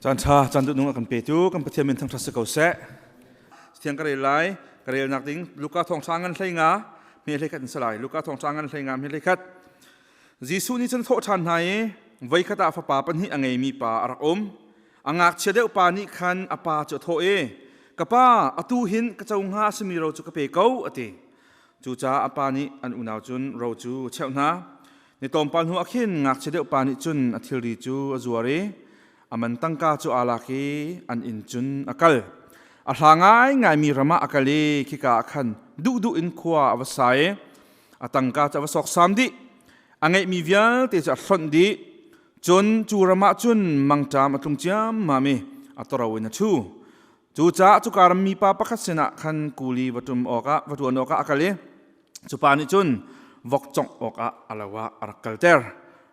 Caanṭha caan duhnung a kan petu kan Pathian min thangṭhat si ko seh. Thiang ka rel lai, ka relnak ding Luka thawngṭha ngan hlei nga, hme hlei khat in salai. Luka thawngṭha ngan hlei nga, hme hlei khat. Jesuh nih cun thawhṭhan hna i voi khat ah fapa pahnih a ngeimi pa a rak um. A ngakchia deuh pa nih khan a pa cu a thawh i, Ka pa, atu hin ka co hnga simi ro cu ka pe ko, a ti. Cucaah a pa nih an unau cun ro cu a cheuh hna. Ni tlawmpal hnu ah khin ngakchia deuh pa nih cun a thilri cu a zuar i a man tangka cu aa lak i an inn cun a kal. A hla ngaingaimi ram ah a kal i khika ah khan duhduh in khua a va sa i a tangka cu a va sawksam dih. A ngeihmi vialte cu a hlonh dih. Cun cu ram ah cun mangṭam a tlung ciammam i a toro in a ṭhu. Cucaah cuka ram mipa pakhat sinah khan kul i va ṭum awkah va ṭuan awkah a kal i cupa nih cun vok congh awkah a lo ah a rak kalter.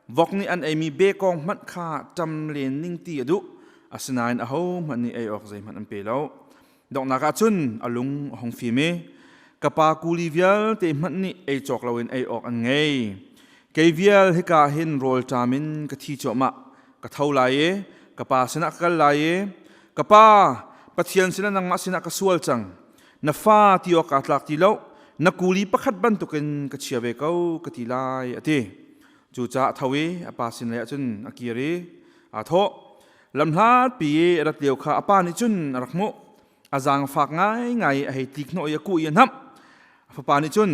Vok nih an eimi bekawng hmanh kha ṭam len ning ti a duh, asinain ahohmanh nih ei awk zeihmanh an pe lo. Donghnak ah cun a lung a hung fim i ka pa kuli vialte hmanh nih ei cawk loin ei awk an ngei. Kei vial hika hin rawlṭam in ka thi cuahmah. ka tho lai i ka pa sinah ka kal lai i ka pa pathian sinah nangmah sinah ka sual cang na fa ti awk kaa tlak ti lo na kuli pakhat bantukin ka chia ve ko ka ti lai a ti cucaah a tho i a pa sin lei ah cun a kir i aa thawh lamhlatpi i a rat lio kha a pa nih cun a rak hmuh a zaangfak ngaingai a hei tik hnawh i a kuh i a hnamh fapa nih cun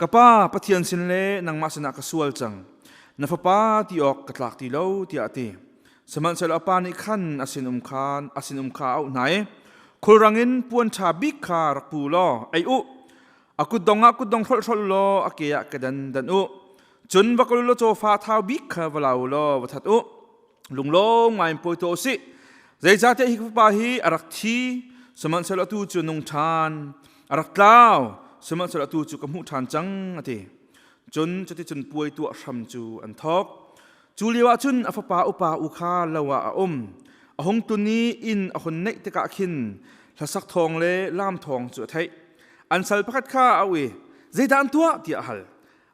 ka pa pathian sin le nangmah sinah ka sual cang na fapa ti awk ka tlak ti lo tiah a ti sihmanhsehlaw a pa nih khan a sinum kha a sinum kha a auh hna i khulrang in puan ṭha bik kha rak pu law ei u a kutdong ah kutdong hrolhrol law a ke ah kedan dan u cun va kul law cawfa thau bik kha va lau law va that u lunglawm ngai in pawi tuah usih zeicahtiah hi fapa hi a rak thi sihmanhsehlaw atu cu nung ṭhan a rak tlau sihmanhsehlaw atu cu ka hmuh ṭhan cang a ti cun cuticun puai tuah hram cu an thawk cu lio ah cun a fapa upa u kha lo ah a um a hung tun i inn a hun neih tikah khin hlasak thawng le lam thawng cu a theih an sal pakhat kha a u i zeidah an tuah tiah a hal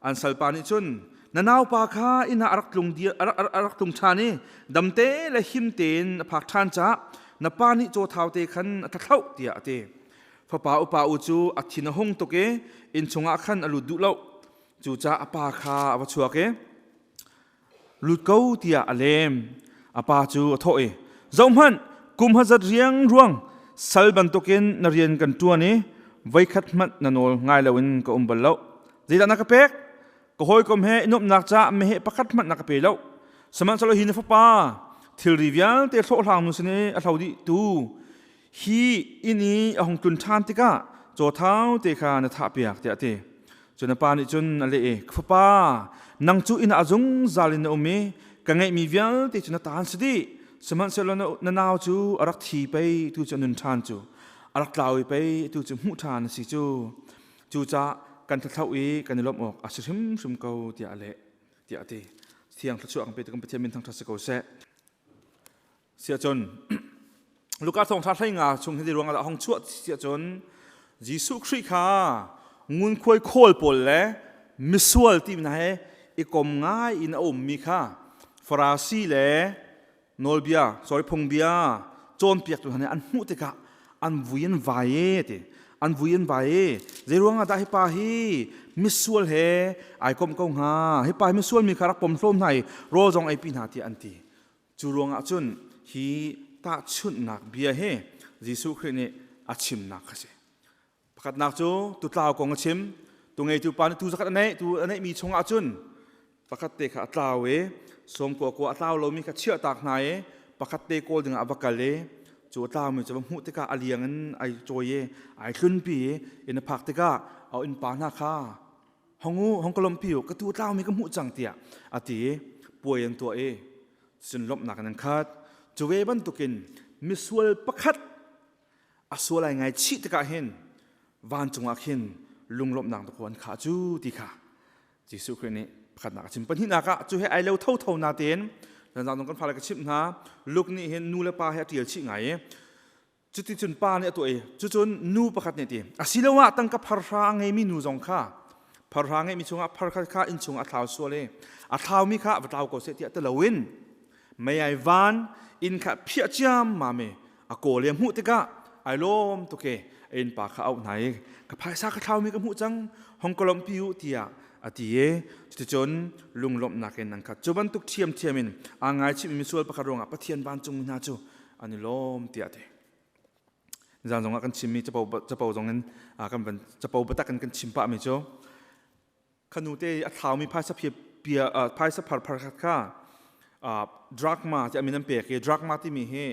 an salpa nih cun na naupa kha inn ah a rak tlung a rak tlung ṭhan i damte le him tein a phak ṭhan cah na pa nih caw thau te khan a thlathloh tiah a ti fapa upa u cu a thin a hung tuk i inn chungah khan a lut duh lo cucaah a pa kha a va chuak i lut ko tiah a lem. A pa cu a thawh i, Zohhmanh, kum hazat riang ruang sal bantukin na rian kan ṭuan i voikhat hmanh na nawl ngai loin ka um bal lo. Zeidah na ka pek? Ka hawikom he i nuamhnak caah meheh pakhat hmanh na ka pe lo. Sihmanhsehlaw hi na fapa, thilri vialte hlawhhlangnu sin i a hlo dih tu hi inn i a hung tlun ṭhan tikah cawthau te kha na thahpiak tiah a ti. Cun a pa nih cun a leh i, Fapa, nang cu inn ah zungzal in na um i ka ngeihmi vialte cu na ta an si dih. Sihmanhsehlaw na nau cu a rak thi pei, tu cu a nun ṭhan cu. A rak tlau i pei tu cu hmuh ṭhan a si cu. Cucaah kan thlathloh i kan i lawmh awk a si hrimhrim ko, tiah a leh, tiah a ti. Thiang thluachuah kan pe tu kan Pathian min thangṭhat si ko seh. sia cun Luka thawngṭha thlenga chung hin ruangah dah hong chuah sia cun Jesuh Khrih kha ngunkhuai khawl pawl le misual ti hna he i kom ngai in a ummi kha Farasi le nawlbia sorry phungbia cawnpiaktu hna nih an hmuh tikah an vui an vai e ti an vui an vai e zei ruangah dah hipa hi misual he ai kom ko hnga hipa hi misual mi kha rak pom hlawm hna i rawl zong ei pi hna tiah an ti Cu ruangah cun hi tahchunhnak bia hi Jesuh Khrih nih a chimnak kha si. Pakhatnak cu tutlau kong a chim. Tu ngeitu pa nih tu zakhat a neih, tu a neihmi chungah cun pakhat te kha a tlau i sawmkua kua a tlau lomi kha chiahtak hna i pakhat te kawl dingah a va kal i cu a tlaumi cu va hmuh tikah a liang in ai cawi i ai hlunpi i inn a phak tikah a innpa hna kha hong u hong kolom pi u ka tu tlau mi ka hmuh cang tiah ati puai an tuah i cun lomhnak an khat cuwe bantukin misual pakhat a sual ai ngai chih tikah hin vancung ah khin lunglomhnak tu an kha cu ti kha Jesuh Khrih nih pakhatnak a chim pahnihnak ah cu he ai lo tho tho na tein zan zang kan fale ka chimh hna Luke nih hin nu le pa he a ṭial chih ngai i Cuticun pa nih a tuah i cucun nu pakhat nih ti asiloah tangka pharhra a ngeimi nu zong kha pharhra ngeimi chungah phar khat kha inn chungah a thlau sual i a thlaumi kha va tlau ko seh tiah ti loin meiai van inn kha phiah ciammam i a kawl i a hmuh tikah ai lawm tuk i a innpa kha auh hna i ka phaisa ka thlaumi ka hmuh cang hong ka lawmhpi u tiah a ti i cuticun lunglawmhnak in an khat cu bantuk ṭhiamṭhiam in aa ngaichihmi misual pakhat ruangah Pathian vancungmi hna cu an i lawm tiah a ti zan zong ah kan chimmi capo capo zong in kan van capo biatak in kan chim pahmi cu khanu te a thlaumi phaisa pia pia phaisa phar phar khat kha drug ma ti amin an pek i drug ma timi hi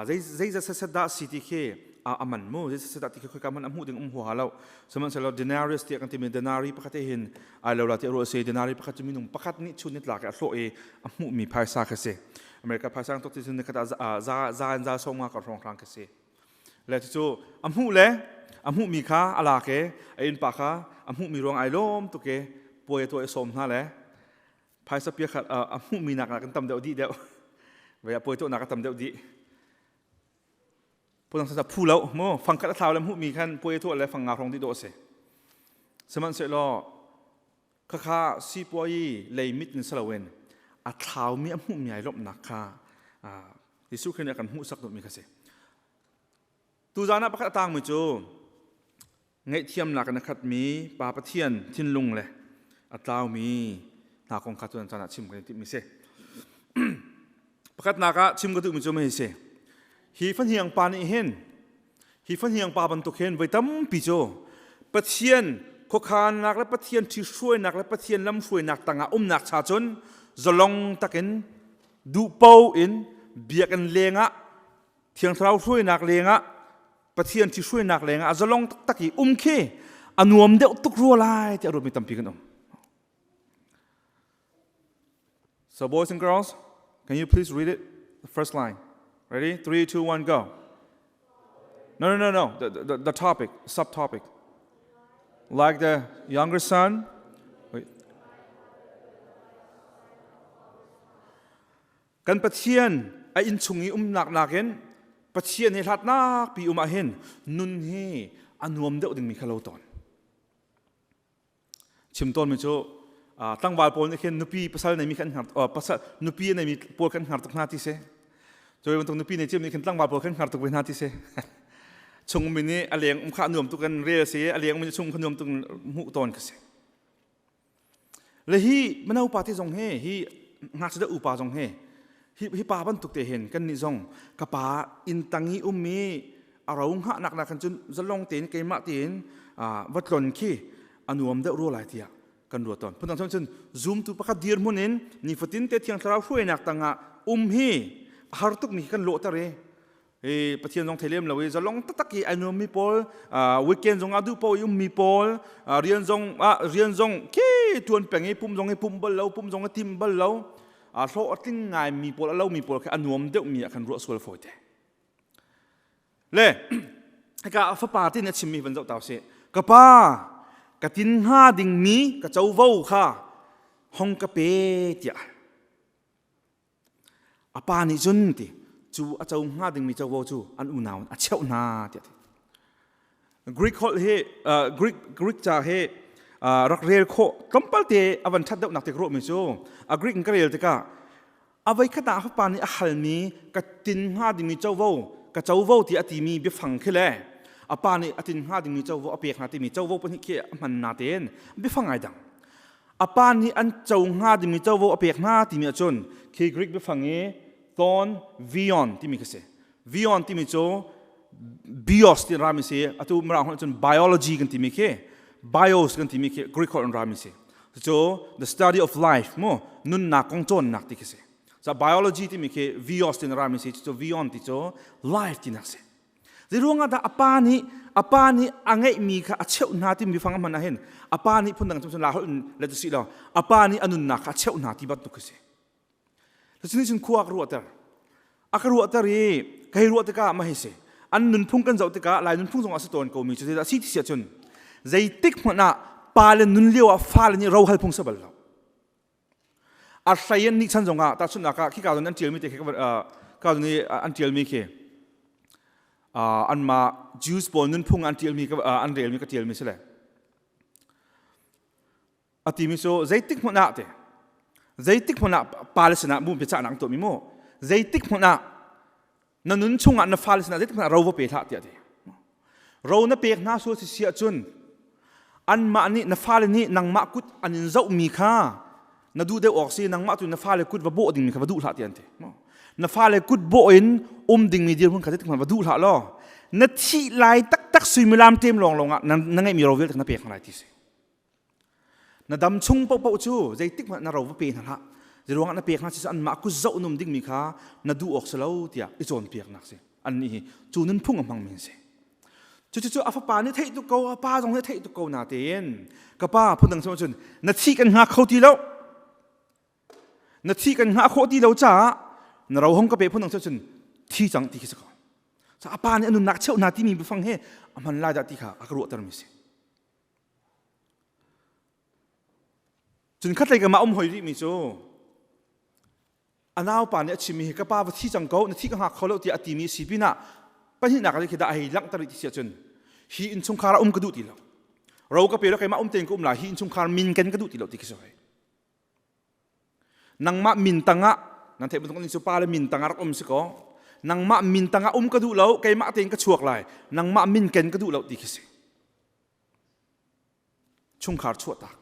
zei zeiza sasat dah si ti khi a man mu zei sasat dah ti khi khoi ka man a hmuh ding um hu ha lo sihmanhsehlaw denarius tiah kan timi denari pakhat he hin ai lo la ti ro se denari pakhat cu minung pakhat nih chun ni tla ke a hlawh i a hmuhmi phaisa kha si America phasang tuk ti cun nikhat ah za in za sawm nga ka hrawng hrang ka si. Le cu a hmuh le a hmuh mi kha a la ke a innpa kha a hmuh mi ruang ai lawm tu ke puai to e som hna le phaisa pia khat a hmuh mi nak kan tam deuh di deuh ve a puai to nak ka tam deuh di putang sa phu lo mu fangkat a thau le hmuh mi khan puai to le fang nga hrong di do se sman se lo Khakha sipuai lei mit in si loin a thlaumi a hmuhmi ai lawmhnak kha Jesuh Khrih nih a kan hmuhsak duhmi kha si. Tuzan ah pakhat a tangmi cu ngaihthiamnak in a khatmi Pa Pathian thinlung le a tlaumi hna kong kha tuan caan ah chim kan i timhmi si. Pakatnak ah chim ka duhmi cu mei si. Hi fahniang pa nih hin hi fahniang pa bantuk hin voi tampi cu Pathian khuakhannak le Pathian ṭhihruainak le Pathian lamhruainak tangah umnak cha cun zalong takin duhpo in biakinn lengah thiang thlarau hruainak lengah Pathian ṭhihruainak lengah a zalong taktak i um khi a nuam deuh tuk rua lai tiah ruatmi tampi kan um. So, boys and girls, can you please read it? The first line. Ready? Three, two, one, go. No, no, no, no. The, the, the topic, subtopic. Like the younger son. Wait. Kan Pathian a inchung i umnak nakin Pathian hi hlatnak pi um ah hin nun hi a nuam deuh dingmi kha lo tawn. chim tawnmi cu tlangval pawl nih khin nupi pasal neimi khan hngar pasal nupi neimi pawl kan hngar tuk hna ti si cu bantuk nupi nei cim nih khin tlangval pawl kan hngar tuk ve hna ti si chungmi nih a leng um khah nuam tuk in rel si a lengmi chung kha nuam tuk in hmuh tawn ka si le hi mino party zong hi hi ngakchia upa zong hi hi, hi pa bantuk te hin kan nih zong ka pa inn tang i um i a ro ngah nak na kan cun zalong tein keimah tiin va tlon khi anuam deuh rua lai tiah kan ruat ton phundang chon cun zumtu pakhat dir mun in nifatin te thiang thlarau hruainak tangah um hi har tuk mi kan lawh tare i pathian zong thei lem lo i zalong taktak i ai nuammi pawl weekend zong ah duh paoh i ummi pawl rian zong ah rian zong ke tuan peng i pum zong i pumh bal lo pum zong i tim bal lo a hlawh a tling ngaimi pawl a lomi pawl kha a nuam deuhmi ah kan ruah sual fawi te le hika fapa tin a chimmi van zoh ta sih ka pa ka tin hnga dingmi ka covo kha hong ka pe tiah a pa nih cun ti cu a co hnga dingmi covo cu an unau a cheuh hna tiah Greek holh hi uh, Greek Greek ca hi uh, rak rel khawh tlawmpal te a van ṭhat deuhnak te ruahmi cu a Greek in ka rel tikah a voi khat ah a fapa nih a halmi ka tin hnga dingmi covo ka covo ti a timi biafang khi le a pa nih a tin hnga dingmi covo a pek hna timi covo pahnih khi a hman na tein biafang ai dang a pa nih an co hnga timi covo a pek hna timi ahcun khi Greek biafang i ton vion timi khi si vion timi cu bios ti rami si atu mirang holh cun biology kan timi khi bios kan timi khi Greek holh in rami si cucu the study of life mu nunnak kong cawnnak ti khi si cu biology timi khi vios ti in rami si cucu vion ti cu life tinak si Zeiruangah dah a pa nih a pa nih a ngeihmi kha a cheuh hna timi fang a hman ahhin a pa nih phundang cun la holh in let u si law a pa nih a nunnak kha a cheuh hna ti bantuk a si. Cucu nih cun khua a ka ruahter. A ka ruahter i kai ruah tikah ma hi si an nunphung kan zoh tikah lai nunphung zongah a si tawn komi cu zeidah a si ti si ahcun zeitik hmanh ah pa le nun lio ah fale nih rohal phung sa bal lo. a hrei an nih chan zongah tahchunhnak ah khi kazon an ṭialmi te khi kazon i an ṭialmi khi anmah Jews pawl nunphung an ṭialmi an relmi ka ṭialmi si le a timi cu zeitik hmun ah te zeitik hmun ah pa le sinah mu biacahnak an tuahmi mu zeitik hmun ah na nun chungah na fale sinah zeitikhmanh ro va pe hlah tiah ti ro na pek hna sual si siah cun anmah nih na fale nih nangmah kut an in zohmi kha na duh deuh awk si nangmah tu na fale kut va bawh dingmi kha va duh hlah tiah an ti na fale kut bawh in um dingmi dirhmun kha zeitikhmanh va duh hlah law na thih lai taktak suimilam tem lawnglawng ah na, na ngeihmi ro vialte na pek hna lai ti si na dam chung paohpaoh cu zeitik hmanh na ro va pe hna hlah ruangah na pek hna si anmah ku zoh num dingmi kha na duh awk si lo tiah i cawnpiaknak si annih hi cu nunphung a hmangmi si cucu a fapa nih theih tuk ko a pa zong nih theih tuk ko natein ka pa phundang sama cun na thih kan hngak kho ti lo na thih kan hngah khawh ti lo caah na ro hong ka pe phundang cun thi cang ti khi si ko a pa nih a nunnak cheuh na timi bifang he a hman lai dah ti kha a ka ruahtermi si Cun khatleikum ah a um hoi rihmi cu a naupa nih a chimmi hi ka pa va thi cang ko na thi ka hngak kho lo tiah a timi a si pinah pahnihnak ah khi dah a hei langhter rih ti si ahcun hi innchungkhar ah um ka duh ti lo ro ka pe lo keimah um tein ka um la hi innchungkhar min ken ka duh ti lo ti khi si hoi nangmah min tangah nan theih bantuk ning cu pa le min tangah rak um si kaw nangmah min tangah um ka duh lo keimah tein ka chuak lai nangmah min ken ka duh lo ti khi si chungkhar chuahtak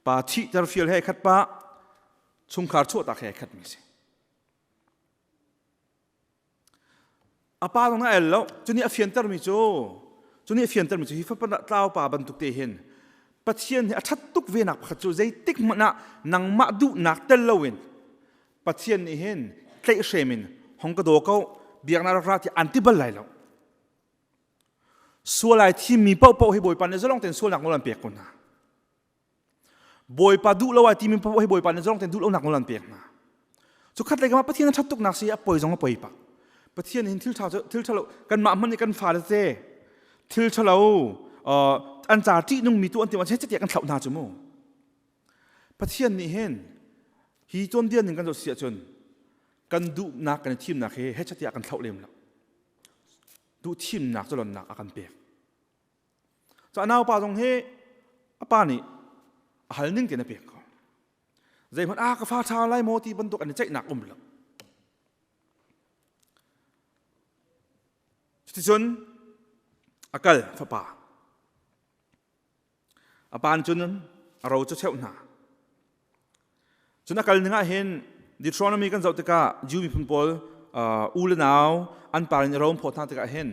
pa thihter fial he khat pa chungkhar chuahtak he khat mi si a pa dong na el lo cuni a fianter mi cu cuni a fianter mi cu hi fapa tlau pa bantuk te hin pathian hi a that tuk ve nak pakhat cu zeitik hmanh ah nangmah duhnak tel lo in pathian nih hin tleih hremin hong ka do ko biak na rak ra ti anti bal lai lo Sual ai thimmi paohpaoh hi Bawipa nih zalong tein sualnak nawl an pek ko hna. Bawipa duh lo ai timi paohpaoh hi Bawipa nih zalong tein duh lonak nawl an pek hna. Cu khatlei kamah Pathian a ṭhat tuk nak si a poi zong a poi pak. Pathian hin thil ṭha cu thil ṭhalo kanmah hmanh nih kan fa tete thil ṭhalo an ca ṭihnungmi tu an ti machin catiah kan thlauh hna cu mu. Pathian nih hin hi cawndian in kan zoh si ahcun kan duhnak kan i thimnak hi hecatiah kan thlauh lem lo. duhthimnak culonnak a kan pek cu a naupa zong hi a pa nih a hal ning tein a pek ko zeihmanh a ah, ka fa ṭha lai maw ti bantuk an i ceihnak um lo cuticun a kal fapa a pan cun a ro cu cheuh hna cun a kal ningah hin Deuteronomy kan zoh tikah Jew miphun pawl u le nau an par in i rom phawt hna tikah hin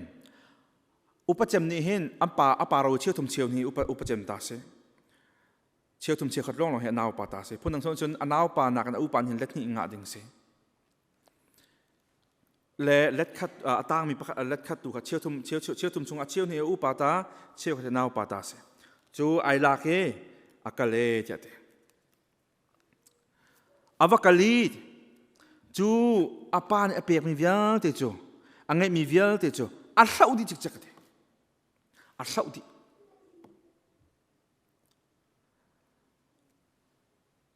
upacem nih hin an pa a pa ro cheu thum cheu hi upacem ta si cheu thum cheu khat lawng lawng hi a naupa ta si phundang chung cun a naupa nakin a upa hin let hnih ngah ding si le letkhat a tangmi pakhat letkhat tu kha cheu thum cheu cheu thum chung a cheu hne upa ta cheu kha nau pa ta si cu ai lak e a kal e tiah te ava kali cu a pa nih a pekmi vialte cu a ngeihmi vialte cu a hloh dih cikcek te a hloh dih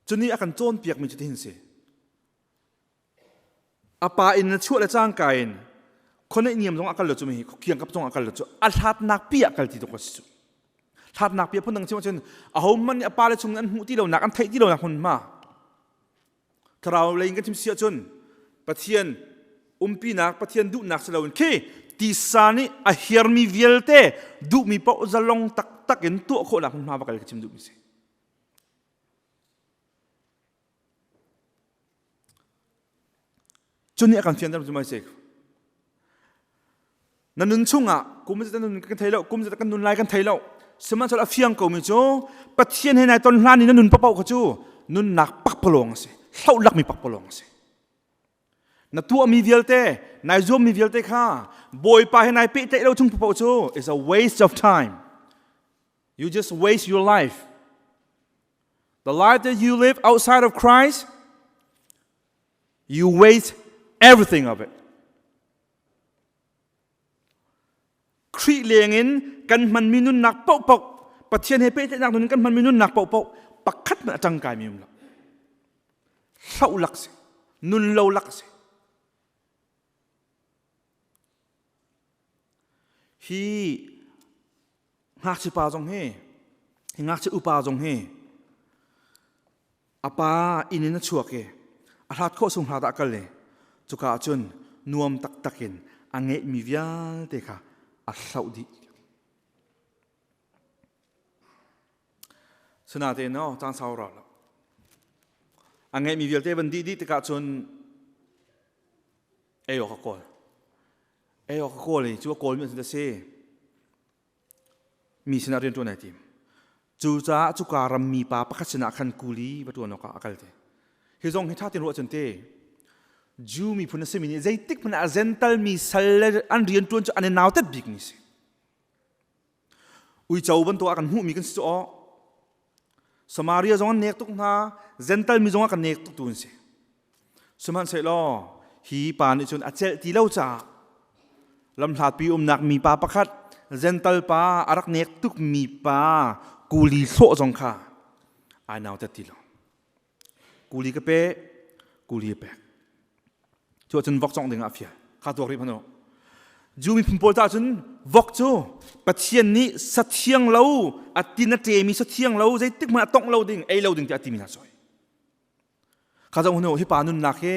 Cuni a kan cawnpiakmi cu tihin si. A pa in na chuah le cangka in khoneih niam zong a kal lo cu mi hi khiang kap zong a kal lo cu a hlatnak pi ah kal ti tuk a si cu hlatnak pi a phundang chim ahcun a homan nih a pa le chung an hmuh ti lonak an theih ti lonak hmun ma thlarau lei in kan chim si ahcun pathian umpinak pathian duhnak si loin khi tisa nih a hiarmi vialte duhmi paoh zalong taktak in tuah khawhnak hmunhma va kal ka chim duhmi si Cun nih a kan fianter cu mai sik. Na nun chungah kum zat na nun kan thei lo kum zat kan nun lai kan thei lo sihmanhsehlaw a fiang komi cu Pathian he nai ton hlan i na nun papo kha cu nunnak pakpalawng a si hlohlakmi pakpalawng a si na tuahmi vialte nai zuammi vialte kha bawipa he nai pehtlaih lo chung papo cu is a waste of time You just waste your life. The life that you live outside of Christ, you waste everything of it. Khrih leng in kan hmanmi nunnak paohpaoh Pathian he pehtlaihnak nun in kan hmanmi nunnak paohpaoh pakhat man a tang kai mi um lo. Hlau lak si, nun lo lak si. Hi ngakchipa zong hi hi ngakchi upa zong hi a pa inn in a chuak i a hlat khawh sung hlat ah kal i cuka ah cun nuam taktak in a ngeihmi vialte kha a hloh dih. Sinatein no caan sau ra lo. A ngeihmi vialte van dih dih tikah cun ei awk a kawl. Ei awk a kawl i cu a kawlmi cu a si. Mi sinah rianṭuan ai tim. Cucaah cuka ram mipa pakhat sinah khan kuli va ṭuan awkah a kal te. Hi zong hi ṭha tein ruah cun te. Jew miphun a simi nih zeitik hmanh ah zentalmi sal le an rianṭuan cu an i nautat bikmi a si. uico bantuk ah kan hmuhmi kan si cu awh Samaria zong an nek tuk hna Gental mi zong ah kan nek tuk tu an si sihmanhsehlaw hi pa nih cun a celh ti lo caah lamhlapi umnak mipa pakhat Gental pa a rak nek tukmi pa kuli thlawh zong kha ai nautat ti lo kuli ka pe kuli a pek cu ahcun vok cawng dingah a fial kha tuak rih hmanu Jew miphun pawl ta cun vok cu Pathian nih sathiang lo a tin a ṭemi sathiang lo zeitik hmanh a tongh lo ding ei lo ding tiah a timi hna sawi kha zong hnu hi pa nunnak hi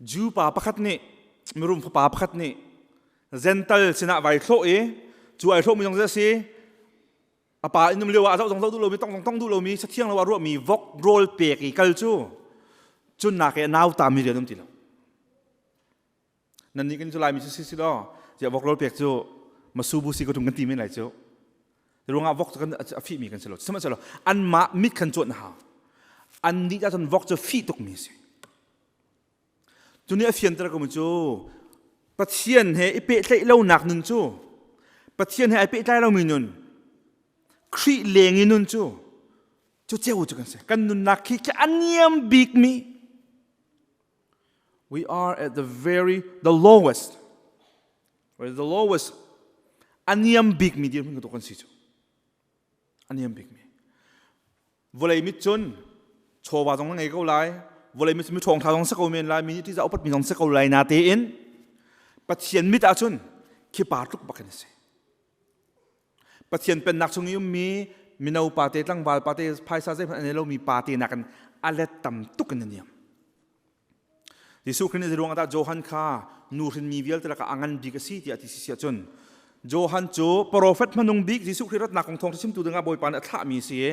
Jew pa pakhat nih mirum fapa pakhat nih zental sinah vai thlawh i cu ai thlawhmi zong cu a si a pa inn um lio ah zoh zong zoh duh lomi tong zong tong duh lomi sathiang lo ah ruahmi vok rawl pek i kal cu cunnak i a nauta mi rian um ti lo nan nih kan July mi si si law je vok lol pek cu masu bu si ko tum kan ti men lai cu ruangah vok kan a fi mi kan si lo sihmanhsehlaw an mah mit kan cawt na ha an nih ta cun vok cu fi tuk mi si tuni a fian tara kum cu pathian he i pe hlei lo nak nun cu pathian he ai pe tlai lo mi nun khri leng i nun cu cu ceu cu kan se kan nunnak khi khi aniam bik mi We are at the very the lowest. Right? The lowest. A niam bikmi dirhmun ka tuk kan si cu. A niam bikmi. Vawlei mit cun chawva zong na ngei ko lai. Vawlei mit cu mi ṭhawngthla zong se ko men lai. Mi nih ṭih za upatmi zong se ko lai na tein. Pathian mit ah cun khi pa tluk bak in a si. Pathian pennak chung i ummi mino pate tlangval pate phaisa zeihmanh an ei lomi pate nakin a let tam tuk in a niam. Jesuh Khrih nih zei ruangah dah Johan kha nu hrinmi vialte lakah a ngan bik a si tiah ti si si ahcun Johan cu profet hmanung bik Jesuh Khrih ratnak kong thawngṭha chimtu dingah Bawipa nih a thlahmi a si i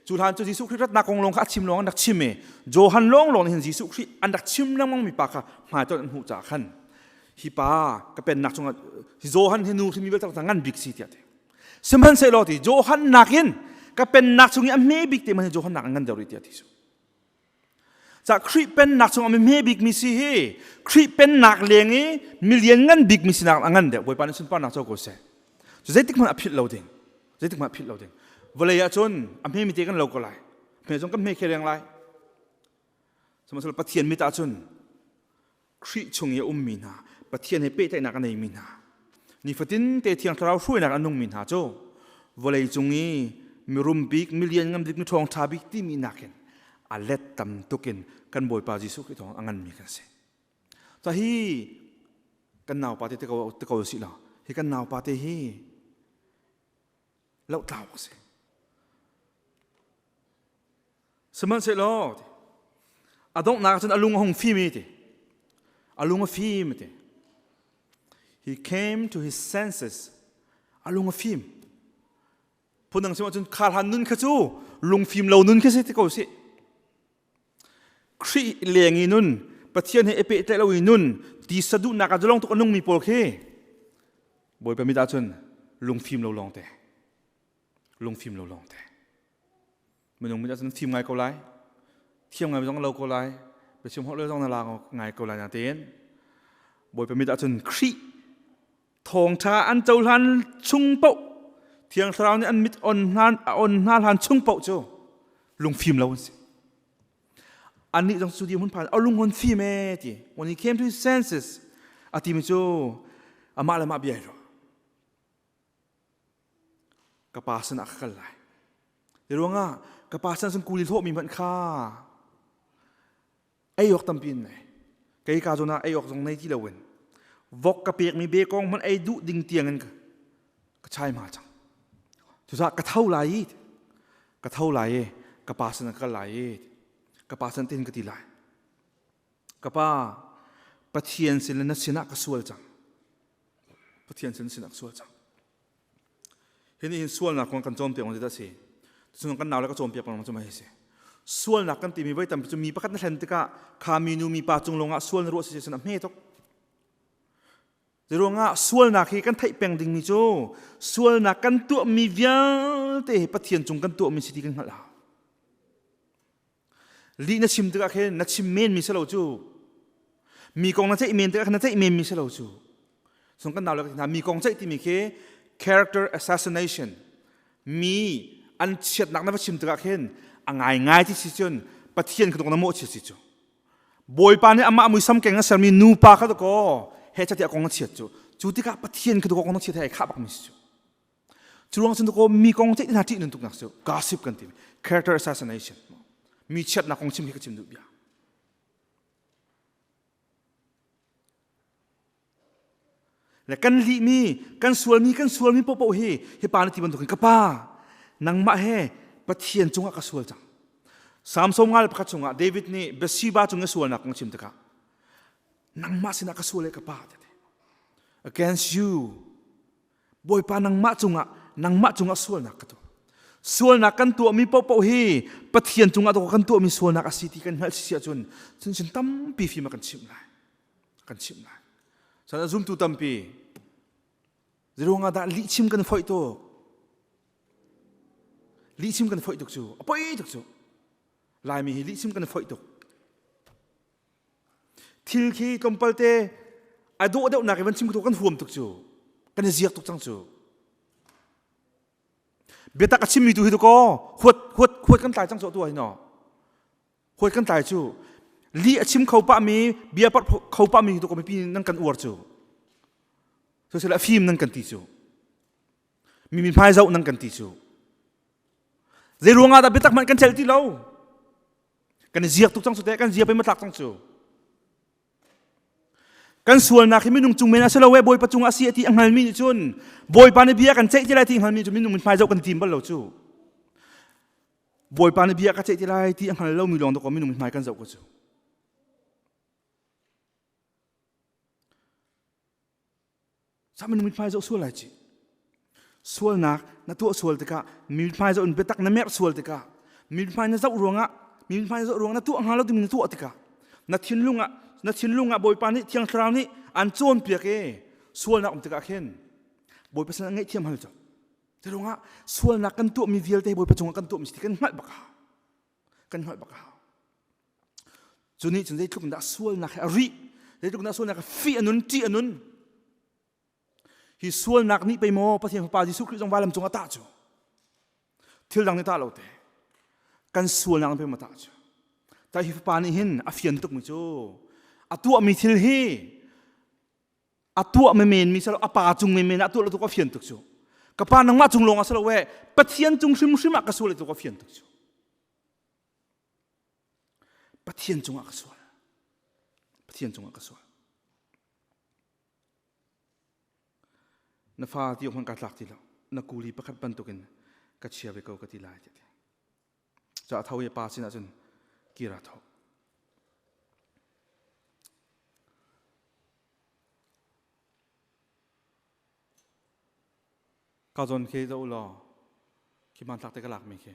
cu hlan cu Jesuh Khrih ratnak kong lawng kha a chim lawng an rak chim i Johan lawnglawng nih hin Jesuh Khrih an rak chim lengmangmi pa kha hmaitonh an hmuh caah khan hi pa ka pennak chungah Johan he nu hrimi vialte ta ngan bik si tiah ti sihmanhsehlaw ti Johan nakin ka pennak chung i a hme bik te man Johan nak an ngan deuh rih tiah ti su ca Khrih pennak chung a me bik mi si hi Khrih pennak leng i milian ngan bik mi sinak a ngan deuh Bawipa nih sunparnak co ko se cu zeitik hmanh a philh lo ding zeitik hmanh a philh lo ding vawlei ah cun a hme mi te kan lo ko lai hme zong kan hme khe reng lai sihmanhsehlaw Pathian mit ah cun Khrih chung i a ummi hna, Pathian he pehtlaihnak a neimi hna, nifatin te thiang thlarau hruainak an nungmi hna cu vawlei cung i mirum bik, milian ngam dik, miṭhawng ṭha bik timi nakin a let tam tukin kan Bawipa Jesuh Khrih thawng a nganmi kan si. Ta hi kan naupa te te ko, te ko sih law, hi kan naupa te hi tlau a si. Sihmanhsehlaw a donghnak cun a lung a hung fimi ti. A lung a fim ti. He came to his senses. A lung a fim. Phundang si ahcun kha hlan nun kha cu lungfim lo nun khi si ti ko si. Khrih leng i nun Pathian he i pehtlaih lo i nun tisa duhnak ah zalong tuk a nungmi pawl khi Bawipa mit ah cun lungfim lo lawng te lungfim lo lawng te minung mit ah cun fim ngai ko lai thiam ngai zong lo ko lai biachim holh zong na la ngai ko lai na tein Bawipa mit ah cun Khrih thawngṭha an cohlan chung paoh Thiang Thlarau nih an mit on hna a on hna hlan chung paoh cu lungfim lo an si. Annih zong cu di hmun phan a lungon fim e ti. When he came to his senses a timi cu amah le mah bia ro. Ka pa sin ah ka kal lai. Di ruangah ka pa sin sun kuli hlawhmi hmanh kha ei awk tampi in nei kei ka zon ah ei awk zong nei ti loin vok ka pek mi be kong man ei duh ding tiang in ka ka chai ma chang cusa ka tho lai i ka tho lai e ka pa san ka lai e ka pa san tin ka ti lai ka pa pathian sin le na sinah ka sual cang pathian sin sinah ka sual cang hi nih hin sualnak kong kan cawn piak maw ti a si cucun kan nau le ka cawn piak maw cu mai si sualnak kan timi voi tampi cu mi pakhat na hlen tikah kha minu mipa cung lawngah sual na ruah si cun a hme tuk Zei ruangah sualnak hi kan theih peng dingmi cu sualnak kan tuahmi vialte hi Pathian cung kan tuahmi si ti kan hngalh ah Li na chim tikah khin na chim men mi si lo cu. Mi kong na ceih men tikah khin na ceih men mi si lo cu. Sung kan nau le ka hna mi kong ceih timi khi character assassination mi an chiatnak na va chim tikah khin a ngai ngai ti si cun pathian kha dong na mawh chi si cu. Bawipa nih amah muisam keng a sermi nupa kha dakaw he catiah kong na chiat cu. Cu tikah pathian kha dakaw kong na chiat he ai khah bak mi si cu. Curuang cun ko mi kong te hna ṭih nan tuk nak cu gossip kan ti character assassination mi chiatnak kong chim hi ka chim duh bia le kan li mi kan sual mi kan sual mi popo hi hi pa na ti bantuk ka pa nangmah he pathian cungah ka sual cang samson ngal pakhat chungah david nih bathsheba cungah sualnak kong chim tikah nangmah sinah ka sual e ka pa te against you Bawipa nangmah cungah nangmah cungah sualnak ka tuah. Sualnak kan tuahmi paohpaoh hi Pathian cungah tawk kan tuahmi sualnak a si ti kan hngalh sisi ahcun cun sin tampi fim a kan chimh lai. Kan chimh lai. Sadah zumtu tampi ziruangah lihchim kan foih tuk. Lihchim kan foih tuk cu. A poi tuk cu. Laimi hi lihchim kan foih tuk. Thil khi tlawmpal te a dawh deuhnak i van chim tu kan huam tuk cu kan i ziak tuk cang cu biatak a chimmi tu hi tu kaw huat huat huat kan tlai cang so tu hi no huat kan tlai cu li a chim kho pah mi bia par kho pah mi tu ko mipi nan kan uar cu so sela fim nan kan ti cu mi mi hmai zoh nan kan ti cu zei ruang ah dah biatak hmanh kan chelh ti lo kan ziak tuk cang cu teh kan ziak pe matlak cang cu kan sualnak hi minung cung men a si lo e bawipa cung a si ti a hngalmi nih cun bawipa nih bia kan ceih ti lai ti hngalmi cu minung min hmaizau kan tim bal lo cu bawipa nih bia ka ceih ti lai ti a hngal lomi lawng dawk minung min hmai kan zoh ko cu Saman mithmai zo sual lai ci. Sualnak na tuah sual tikah mithmai zo in biatak na mer sual tikah mithmai na zoh ruangah mithmai zoh ruangah na tuah hnga lo timi na tuah tikah na thinlung ah na thinlung ah Bawipa nih Thiang Thlarau nih an cawnpiak i sualnak um tikah khin Bawipa sin ah ngaihthiam hal cu. Te ruangah sualnak kan tuahmi vialte Bawipa cungah kan tuahmi si kan hngalh bak hau. Kan hngalh bak hau. Cu nih cun zeitluk in dah sualnak he a rih, zeitluk in dah sualnak he fih a nun, ṭih a nun. Hi sualnak nih pei maw Pathian Fapa Jesuh Khrih zong vailam cungah tah cu? Thil dang nih tah lo te. Kan sualnak nih pei maw tah cu? Ta hi Fapa nih hin a fian tukmi cu a tuahmi thil hi a tuahmi menmi silo a pa cung menmen ah a tuah lo tuk a fian tuk cu. Ka pa nangmah cung lawng ah si lo we Pathian cung hrimhrim ah ka sual lo tuk a fian tuk cu. Pathian cungah ka sual. Pathian cungah ka sual. Na fa ti hon ka tlak ti lo. Na kuli pakhat bantukin ka chia ve ko ka ti lai ti. Ca thau i pa sinah cun kira tho. Ka zon khi za u law, khi man tlak te ka lak mi khi.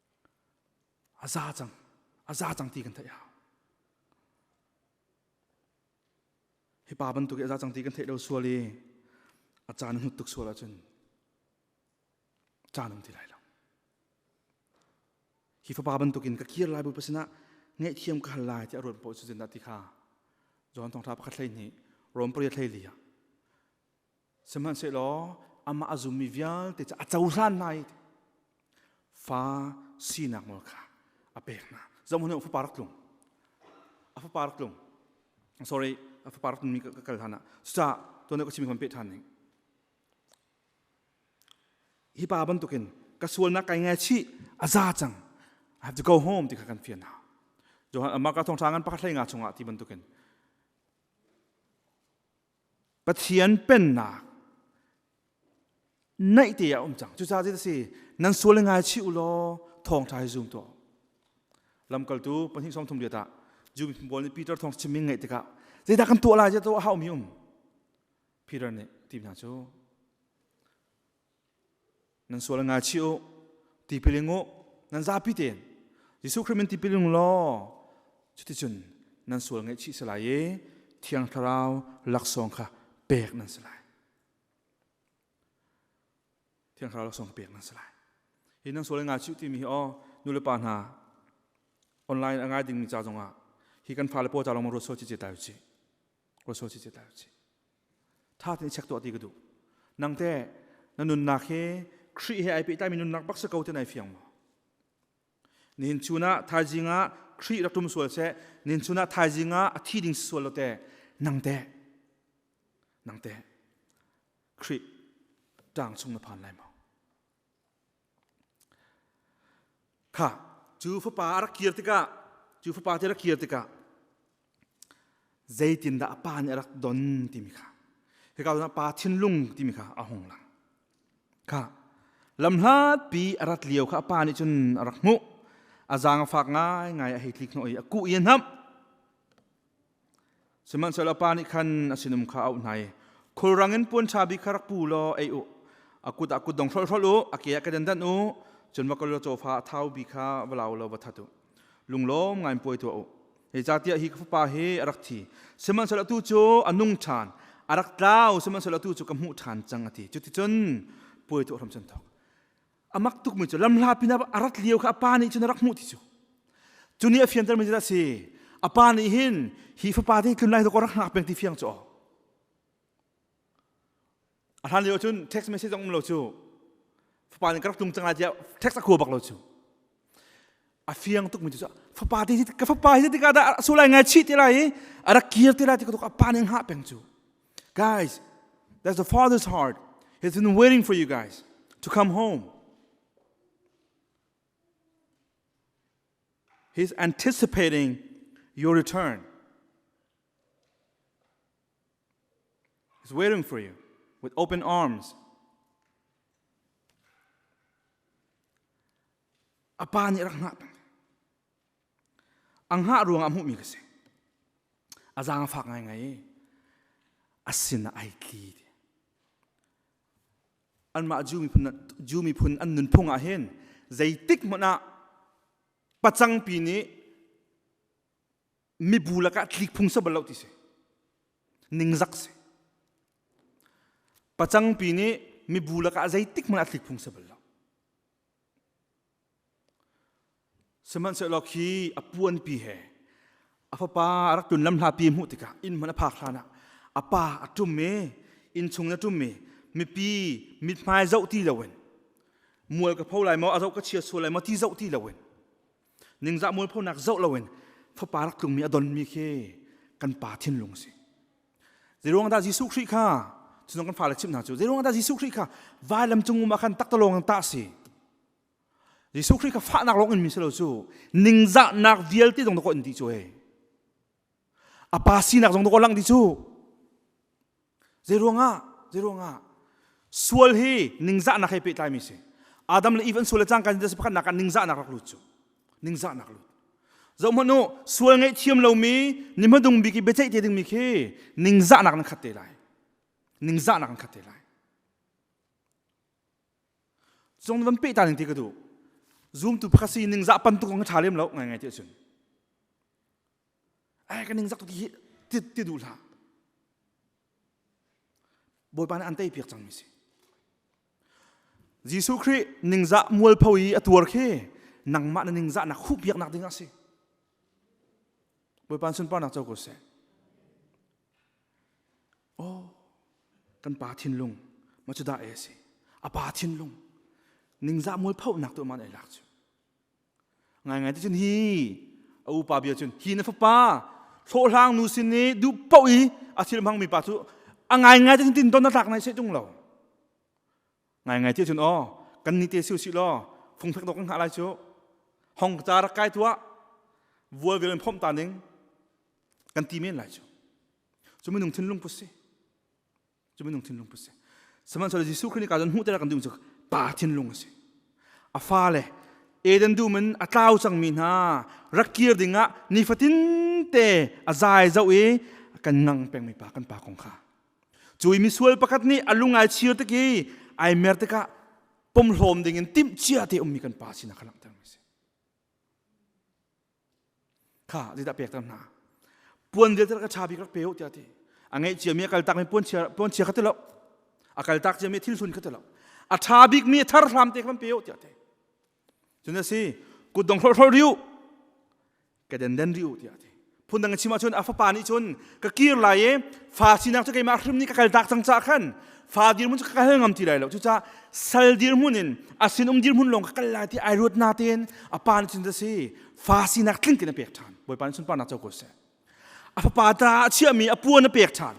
a za cang a za cang ti kan theih hau hi pa bantuk i a za cang ti kan theih lo sual i a caan hnut tuk sual ahcun caan um ti lai lo hi fapa bantukin ka kir lai bu pasin ah ngaihthiam ka hal lai ti a ruat poh cu zindah ti kha John thong tha pakhat hlei hnih Rom pariat hlei li ah Sihmanhsehlaw amah a zummi vialte cu a cohlan hna i fa sinak nawl kha a pek hna. Zohhmanh u fapa rak tlung. A fapa rak tlung. Sorry, a fapa rak tlungmi ka kal hlanah. Cucaah tuan ka chimi kan peh ṭhan ning. Hi pa bantukin ka sualnak kai ngaichih a za cang. I have to go home ti kha kan fian hna. Johan mah ka thawngṭha ngan pa hlei nga chungah ti bantukin Pathian pennak naih te a um cang cucaah zit a si nan sual ngai chi u law thawngṭha hi zum tuah lamkaltu pahnih som thum liat ah Jew bawl nih Peter thawng chimning ngeih tikah zeidah kan tuah lai ti a haumi um Peter nih ti hna cu nan sual nga chi u tipiling u nan zapi ten Jesuh Khrist min tipiling law cuticun nan sual ngaih chi salai i thiang thlarau laksawng kha pek nan si lai thiang thlarau laksawng pek nan si lai hi nan sual nga chi u timi hi o nule pa hna online a ngai dingmi ca zongah hi kan fale paw ca lawng ruat so ci ce ta u ci ruat so ci ce ta u ci ṭha tein check tuah ti ka duh nangte na nunnak hi Khrih he ai pehtaimi nunnak baksa ko te nai fiang maw nihin chunah thaizing ah Khrih rak tum sual se nihin chunah thaizing ah a thi ding sual lo te nangte nangte Khrih tang chung na phan lai maw Kha cu fapa a rak kir tikah cu fapa te rak kir tikah zeitindah a pa nih a rak don timi kha hika zongah pa thinlung timi kha a hung lang kha lamhlatpi a rat lio kha a pa nih cun a rak hmuh a zaang a fak ngaingai a hei tlik hnawh i a kuh i a hnamh Sihmanhsehlaw pa nih khan a sinum kha a auh hna i, Khulrang in puanṭha bik kha rak pu law ei u. A kut ah kutdong hrolhrol u, a ke ah kedandan u, cun va kal law cawfa a thau bi kha va lau law va that u. Lunglawm ngaiin puai tuah u. Zeicahtiah hi ka fapa hi a rak thi, sihmanhsehlaw tu cu a nung ṭhan, a rak tlau, sihmanhsehlaw tu cu ka hmuh ṭhan cang, a ti. Cuticun puai tuah hram can thawk. a mak tukmi cu lamhla pinah a rat lio kha a pa nih cun a rak hmuh ti cu cu ni a fiantermi cu a si a pa nih hin hi fapa te tlun lai rak hngak peng ti fiang cu a hlan lio cun text message zong um lo cu fapa nih ka rak tlung cang lai tiah text a khua bak lo cu a fiang tuk mi cu fapa ti ka fapa hi tikah dah a sulai ngai chi ti lai i a rak kir ti lai ti ka pa nih ngah peng cu guys that's the father's heart he's been waiting for you guys to come home he's anticipating your return He's waiting for you with open arms. A pa nih rak ngah pang. A ngah ruang ah hmuhmi ka si. A zaang a fak ngaingai i a sin ah ai tli ti. Anmah Jew miphun, Jew miphun an nunphung ah hin zeitik hmanh ah pacangpi nih mibu lakah thlik phung sa bal lo ti si ningzak si pacangpi nih mibu lakah zeitik hmanh ah thlik phung sa bal lo sihmanhsehlaw khi a puanpi he a fapa a rak tun lam hlapi hmuh tikah inn hman a phak hlan ah a pa a ṭum i innchung na ṭum i mipi mithmai zoh ti loin mual ka pho lai maw a zoh ka chia sual lai maw ti zoh ti loin ningzah mualphonak zoh loin fapa rak tlungmi a donmi khi kan pa thinlung a si zeiruang dah Jesuh Khrih kha cunong kan fale chim hna cu zeiruang dah Jesuh Khrih kha vailam cungum ah khan takta lawng in tah a si Jesuh Khrih kha fahnak lawng in mi si lo cu ningzahnak vialte zong dawk in ti cu hei a pa sinak zong dawk lang ti cu Zeiruangah? Zeiruangah? Sual hi ningzahnak he pehtlaimi si. Adam le Eve an sual le cangka in pakhatnak ah ningzahnak rak lut cu. Ningzahnak lut. Zohhmanh u, sual ngaihthiam lomi, ni hmadung bik i biaceih te dingmi khi ningzahnak nan khat te lai. Ningzahnak nan khat te lai. Cung van pehta ning ti ka duh. Zumtu pakhat si ningzah pan tuk kong ka ṭha lem lo ngai ngai ti cun. ai ka ning zak ti hi tit ti du hlah bawipa nih an tei piak cangmi si Jesuh Khrih ningzah mual pho i a tuar khi nangmah na ningzah na khu piak nak ding a si bawipa sunparnak co ko seh oh kan pa thinlung ma cu da e si a pa thinlung ningzah mual pho nak tu man ai lak chu Ngaingai ti cun hi a upa bia cun hi na fapa hlawhhlang nu sin i duh poh i a thil hmangmi pa cu a ngaingai ti cun tin don na tlak nai seh tung lo ngaingai ti cun aw kan ni te siu si law fung phek dawk kan hngah lai cu hong ca rak kai tuah vual vial in phomh ta ning kan ti men lai cu cu minung thinlung put si cu minung thinlung put si sihmanhsehlaw Jesuh Khrih nih ka zon hmuh ter kan ding cu pa thinlung a si a fa le Eden dum in a tlau cangmi hna rak kir dingah nifatin te a zai zau i kan ngang pengmi pa kan pa kong kha cu i misual pakhat nih a lungai chir tik i ai mer tikah pom hlawm dingin timh cia te ummi kan pa sinak kha langhter mi si kha zeidah pek ter hna puan vialte ka cha bik rak pe u tiah ti a ngeih ciami a kaltak mi puan chia puan chia kha ti lo a kaltak ciami thil sun kha ti lo a tha bik mi a thar hram te kan pe u tiah ti cun a si kutdong hrol hrol riu ka den den riu tiah ti phun dang chim ahcun a fapa nih cun ka kir lai i fa sinak cu keimah hrim nih ka kaltak cang ca khan fa dirmun cu ka kal ngam ti lai lo cucah sal dirmun in a sinum dirmun lawng ka kal lai ti ai ruat na tein a pa nih cun si fa sinak tling in a pek ṭhan bawipa nih sunparnak co ko seh a fapa ta a chiahmi a puan a pek ṭhan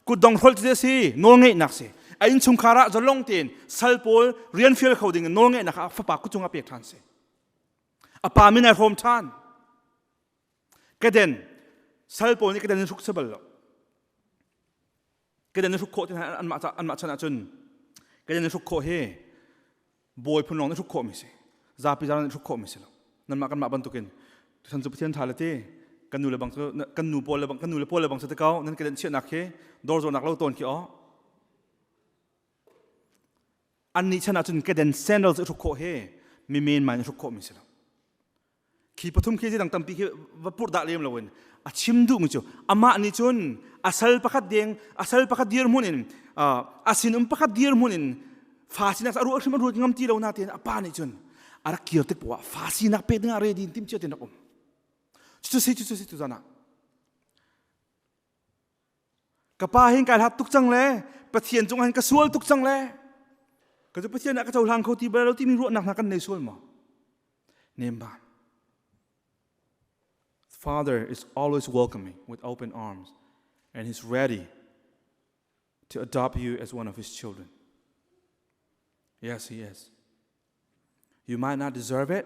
kutdong hrol cu si nawlngeihnak si a innchungkhar ah zalong tein sal pawl rian fial kho ding in nawlngeihnak ah fapa kucung a pek ṭhan si a pa min ai hrawm ṭhan kaden sal pawl nih kaden in hruk sebal lo kedan hruk khawh tihan anmah anmah chan ahcun kedan hruk khawh hi bawi phun lawng hruk khawh mi si zapi zara hruk khawh mi si lo nanmah kanmah bantukin tusan cu pathian tha le ti kan nu le bang kan nu pawl le bang kan nu le pawl le bang se takaw nan kedan chiahnak hi dor zawnak lo ton khi o an ni chan ahcun kedan sandals hruk khawh hi mi men mai hruk khawh mi si lo khi pathum khi dang tampi khi va purh dah lem lo in a chim duh mi cu amah nih cun a sal pakhat deng a sal pakhat dir mun in a sin um pakhat dir mun in fa sinak a ruah hrim a ruat ngam ti lo na ten a pa nih cun a rak kir tik poah fa sinak pek ding a re din tim cio tin rak um cucu si cucu si tu zana ka pa hin kai hlat tuk cang le pathian cungah hin ka sual tuk cang le ka cu pathian ah ka cohlang kho ti bal lo timi ruahnak hna kan nei sual maw nem ban father is always welcoming with open arms and he's ready to adopt you as one of his children yes he is you might not deserve it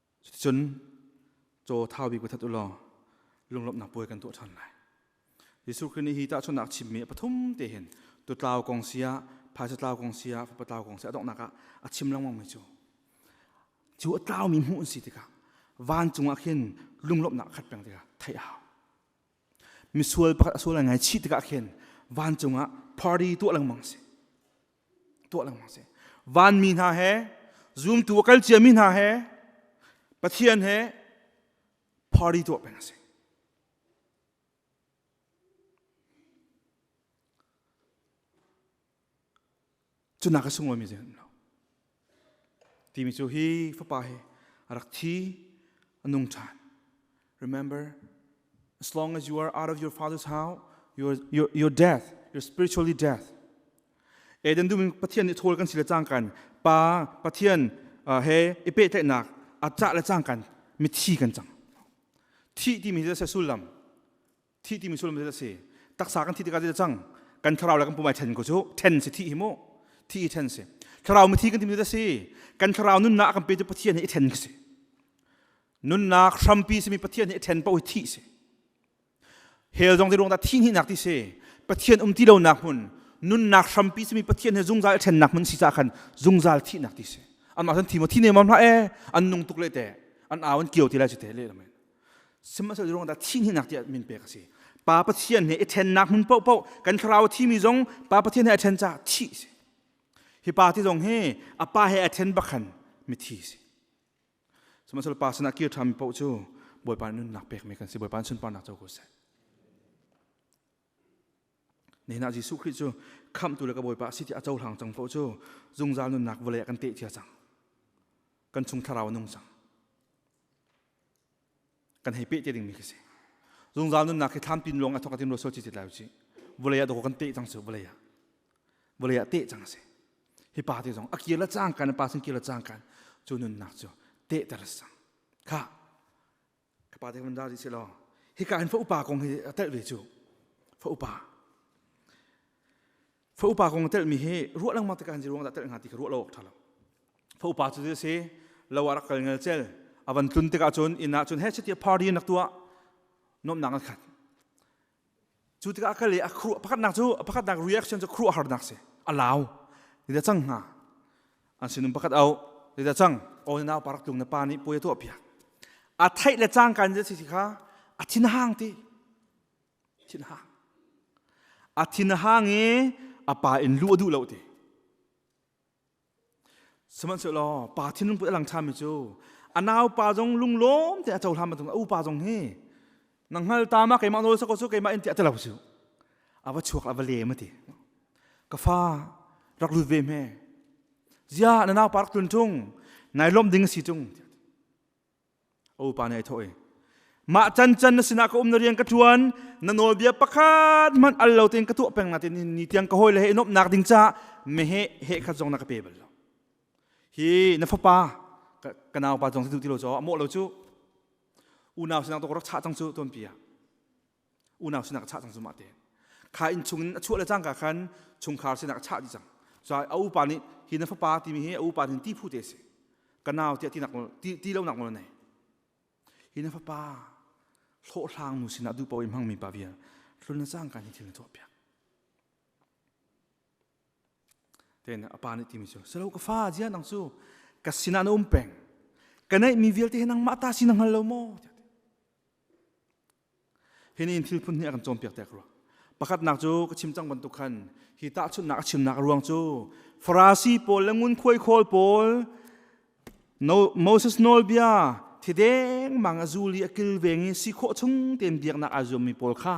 Cucun caw thaubi ku that u law lunglawmhnak puai kan tuah ṭhan lai. Jesuh Khrih nih hi tahchunhnak chimmi a pathum te hin tutlau kong sia, phaisa tlau kong sia, fapa tlau kong sia a donghnak ah a chim lengmangmi cu cu a tlaumi hmuh an si tikah vancung ah khin lunglawmhnak khat peng tikah theih a hau. Misual pakhat a sual ai ngaichih tikah khin vancung ah party tuah lengmang a si. tuah lengmang si vanmi hna he zumtu a kal ciami hna he pathian he party tuah peng a si cunak a sung lomi zeihmanh lo Timi cu hi fapa hi a rak thi a nung ṭhan. Remember, as long as you are out of your father's house, your, your, your death, your spiritually death, Eden dumin Pathian nih thawl kan si le cangkan pa Pathian uh, he i pehtlaihnak a cah le cangkan mithi kan cang. Thi timi hi a sullam thih timi sullam cu a si taksa kan thih tikah cang kan thlarau le kan pumai then ko cu then si thih hi mu thih hi then si thlarau mithi kan timi a si kan thlarau nunnak kan pe cu pathian hi then si nunnak hrampi simi pathian hi then po hi thi si hell zong ti ruang ta thi ni nak ti si pathian um ti lo nak mun nunnak hrampi simi pathian he zungzal then nak mun si sa khan zungzal thi nak ti si an ma san thi mo thi ne mam la e an nung tuk le te an awan kio ti la chi te le amen sihmanhsehlaw ruangah thihninak tiah min pek a si pa pathian he i ṭhennak hmun paohpaoh kan thlarau a thimi zong pa pathian he a ṭhen caah thih si hi pa ti zong hi a pa he a ṭhen bakhan mithi si sihmanhsehlaw pa sinah kir ṭhami paoh cu bawipa nunnak pekmi kan si bawipa sunparnak co ko seh nihin ah Jesuh Khrih cu khamhtu le ka bawipa si ti a cohlang cang paoh cu zungzal nunnak vawlei ah kan teh cia cang kan chung thlarau a nung cang kan hei peh te dingmi khi si zungzal nunnak khi thlam tin ruang a thok a tim lo so ci lai ci vulei ah dawko kan teh cang su vulei ah vulei ah teh cang si hi pa te zong a kir la cang kan pa sin kir la cang kan cu nunnak cu teh ter sang kha ka pa te kan da si lo hi ka hin fa upa kong hi a tel ve cu fa upa Faupa kong telmi hi ruah lengmang tik an ji ruang dah tel nga ti ka ruah lo awk ṭha lo. Faupa cu a si lo ah rak kal ngel cel a van tlun tikah cun inn ah cun he chiti party nak tuah nomnak an khat cu tikah a kal i a khru pakhatnak cu a pakhatnak reaction cu khru a harnak si a lau ida cang nga an sinum pakhat au ida cang o nau parak tlung na pa nih puai tuah piak a theih le cangkan je si kha a thin hang ti thinhang a thinhang i a pa in lu a duh lo ti sihmanhsehlaw pa thinlung put a lang ṭhami cu a naupa zong lunglawm te a cohlan matung a upa zong hi na hngal ta ma keimah nawl sako cu keimah in ti a ti lo cu a va chuak a va le ma ti ka fa rak lut ve hme zia na naupa rak tlun ṭung nai lawmh ding a si ṭung a upa nih a thawh i mah can can na sinah ka um na rian ka ṭuan na nawlbia pakhat hmanh al lo tein ka tuah peng natin ni tiang ka hawile he i nuamhnak ding caah mehe he khat zong na ka pe bal lo hi na fapa ka naupa zong si ti lo caw a mawh lo cu unau sinang to rak chah cang cu tuanpi ah unau sinak a chah cang zumah te kha inn chung in a chuah le cangka khan chungkhar sinak a chah dih cang so a upa nih hi na fapa timi hi a upa hin ti phu te si ka nau tiah ti nak ti ti lo nak nawl nei hi na fapa hlawhhlang nu sinah duh poim hangmi pa vial hlun na cang ka ni thil na tuah piak ten a pa nih timi cu selo ka fa jia nang cu ka sinah na um peng ka neih mi vialte nang mah ta sinang hal lo maw Hi ni thil phun hi a kan cawnpiak tek rua. Pakhatnak cu ka chim cang bantuk khan hi tahchunhnak a chimnak ruang cu Farasi pawl le ngunkhuai khawl pawl no, Moses nawlbia thi deng mang a zul i a kilveng i si khawh chung tein biaknak aa zuammi pawl kha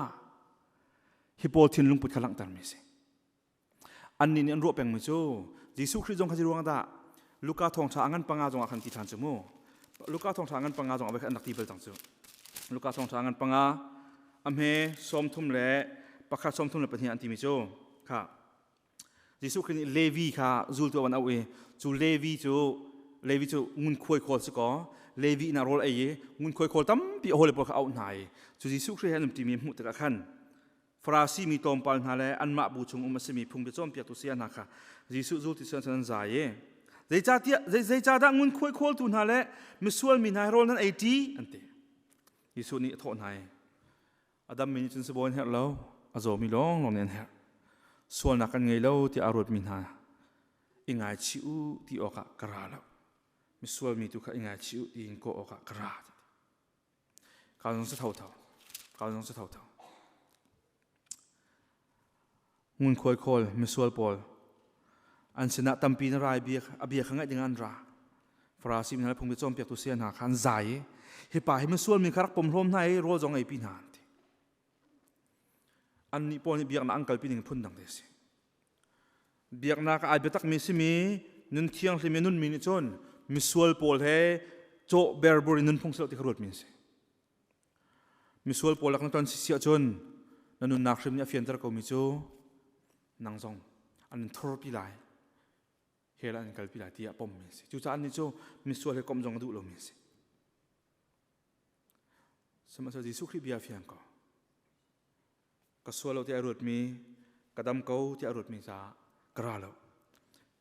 hi pawl thin lungput kha langhtermi a si. Annih nih an ruah pengmi cu Jesuh Khrih zong kha zei ruangah dah Luka thawngṭha a ngan panga zongah khan ti ṭhan cu mu. Luka thawngṭha a ngan panga zongah voi khat an rak ti bal cang cu. Luka thawngṭha a ngan panga a hme sawm thum le pakhat sawm thum le pahnih an timi cu kha Jesuh Khrih nih Levi kha zultu a van auh i cu Levi cu Levi cu ngunkhuai khawl si kaw Levi inn ah rawl ei i ngunkhuai khawl tampi a hawile pawl kha auh hna i cu Jesuh Khrih he an um ṭimi hmuh tikah khan Farasi mi tlawmpal hna le anmah bu chung um a simi phung cawnpiaktu saya hna kha Jesuh zul ti cun an zai i zeicahdah ngunkhuai khawltu hna le misual mi hna rawl nan ei ṭi an ti Jesuh nih a thawh hna i a dammi nih cun sibawi an herh lo a zawmi lawnglawng nih an herh sualnak kan ngei lo tiah a ruatmi hna i ngaichih u ti awkah ka ra lo misual mi tu kha i ngaichih u tiin kawh awkah ka ra Ka zong cu tho tho. Ka zong cu tho tho. Ngunkhuai khawl, misual pawl. An sinah tampi na rai bia a bia kha ngaih ding an ra. Farasi mi hna le phungbi cawnpiaktu sia hna kha an zai i hi pa hi misual mi kha rak pom hlawm hna i rawl zong ei pi hna an ti. Annih pawl nih biaknak an kalpi ning phun dang te a si. Biaknak ai biatakmi simi nun thianghlim i nunmi nih cun misual pawl he cawh berbur in nunphung silo ti kha ruatmi a si. Misual pawl lak na ton sisi ahcun na nunnak hrim nih a fianter komi cu nang zong an in thurpi lai hell an in kalpi lai tiah pommi a si. Cucaah annih cu misual he komh zong a duh lomi a si. Sihmanhsehlaw Jesuh Khrih bia fiang ko. ka sual lo tiah ruatmi ka dam ko tiah ruatmi ca ka ra lo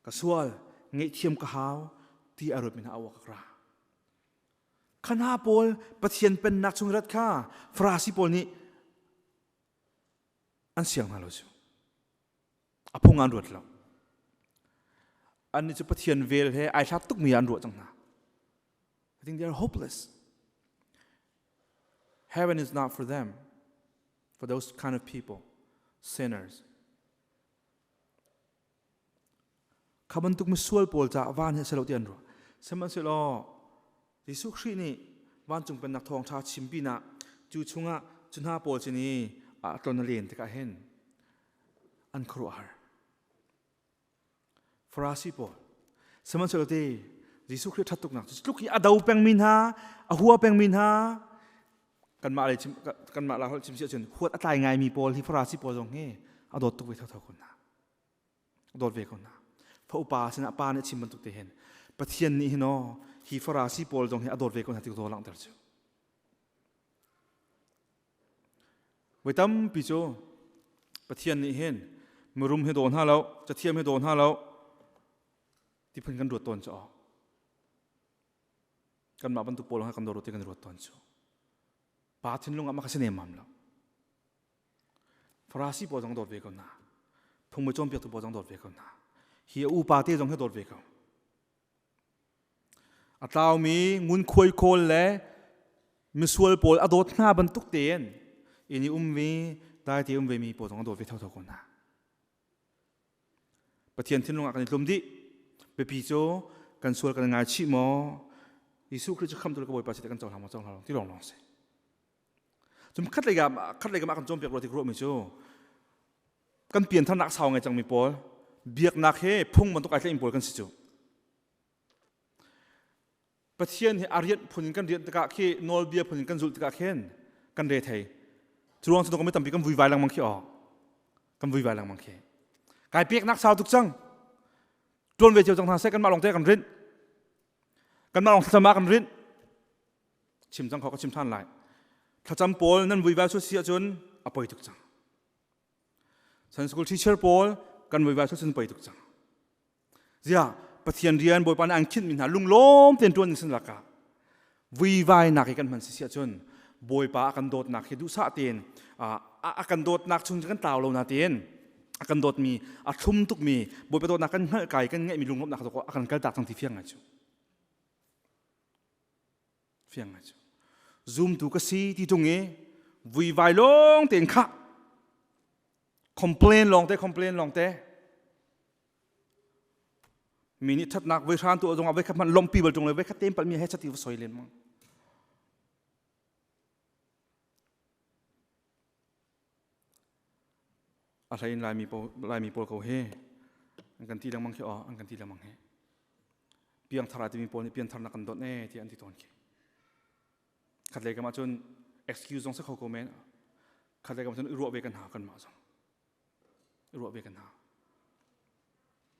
ka sual ngaihthiam ka hau ti a ruatmi hna awa ka ra khana pawl pathian pennak chung rat kha farasi pawl nih an siang hna lo cu a phung an ruat lo an nih cu pathian vel he ai thlak tukmi an ruah cang hna I think they are hopeless Heaven is not for them, for those kind of people, sinners. Khaban tuk misual pawl ca van he selo ti an ru. Sihmanhsehlaw Jesuh Khrih nih vancung pennak thawng ṭha chim pinah cu chungah cu hna pawl sin i a tlon a len tikah hin an khuaruahhar. Farasi pawl sihmanhsehlaw Jesuh Khrih ṭhat tuknak cu tluk hi a do pengmi hna a hua pengmi hna kanmah lei kanmah la holh chim si ahcun huat a tlai ngaimi pawl hi farasi pawl zong hi a dawt tuk ve thotho ko hna a dawt ve ko hna fa upa sinah pa nih a chim bantuk te hin Pathian nih hin aw hi farasi pawl zong hi a dawt ve ko hna ti ka zaw langhter cu Voi tampi cu Pathian nih hin mirum hi daw hna lo, cathiam hi daw hna lo, tiphun kan ruat tawn cu aw. Kanmah bantuk pawl hna kan dawt ti kan ruat tawn cu. Pa thinlung ah mah ka si nemmam lo. Farasi pawl zong dawt ve ko na. Phung me cawnpiaktu pawl zong dawt ve ko na. Hi a upa te zong hi dawt ve ko. A tlaumi ngunkhuai khawl le misual pawl a dawt hna bantuk tein inn i ummi daite um vemi pawl zong a dawt ve thotho ko hna. Pathian thinlung ah kan i tlum dih. Biapi cu kan sual kan i ngaichih maw? Jesuh Khrih cu khamtu le ka Bawipa si kan cohlang maw cohlang lo ti lawng lawng si. Cun khatlei kam ah khatlei kam ah kan cawnpiak rua ti ruahmi cu kan piantharnak sau ngai cangmi pawl biaknak he phung bantuk ai tlaihmi pawl kan si cu. Pathian he a rianh phun in kan rianh tikah khi nawlbia phun in kan zulh tikah khin kan re thei. Cu ruang cu kan tampi kan vui vai lengmang khi awk. Kan vui vai lengmang khi. Kai peknak sau tuk cang. Tuan ve cio cang hna seh kanmah lawng te kan rinh. Kanmah lawng thlam ah kan rinh. chim cang khawh ka chim than lai thlacam pawl nan vui va su si ahcun a poi tuk cang san school teacher pawl kan vui va su cun poi tuk cang zia pathian rian bawipa nih ang khinh mi hna lunglawm ten tuan in sin laka vuivai nak hi kan hman si ahcun bawipa a kan dawtnak hi duhsah tein a kan dawtnak chung kan tlau lo na tein a kan dawt mi a thlum tuk mi bawipa dawtnak kan hngalh kai kan ngeih mi lunglawmnak zok a kan kal tak cang ti fiang ngai cu fiang ngai cu zumtu ka si ti tung i vui vai lawng tein khah complain lawng te complain lawng te mi nih thatnak voi hran tu zong ah voi khat hmanh lompi bal tung le voi khat tein palmi he chati va soi len mang A hlei in Laimi pawl ko hi an kan ti lengmang khi an kan ti lengmang hi. Piangthar ah timi pawl nih pianthar nak kan donh e ti an ti tawn khi. Khatlei kam ahcun excuse zong si kho ko men. Khatlei kam ahcun i ruah ve kan ha kan mah zong. I ruah ve kan ha.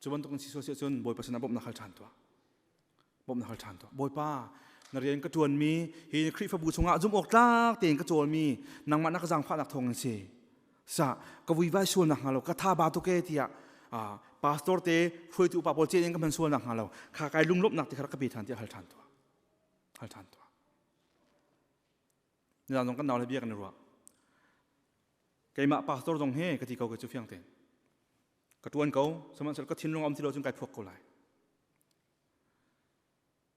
cu bantuk in si sual si ahcun bawipa sinah bawmh na hal ṭhan tuah bawmh na hal ṭhan tuah bawipa na rian ka ṭuanmi hi Khrihfabu chungah zumh awk tlak tein ka cawlmi nangmah na ka zaangfahnak thawngin si sa ka vui vai sual nakhnga lo ka tha ba tuke tiah pastor te hruaitu upa pawl ceh in ka hman sual nakhnga lo kha kai lunglawmhnak ti kha ka pe ṭhan tiah hal ṭhan tuah hal ṭhan tuah nizaan zong kan nau le bia kan i ruah keimah pastor zong he ka ti ko ke cu fiang tein ka ṭuan ko sihmanhsehlaw ka thinlung a um ti lo cun kai phuak ko lai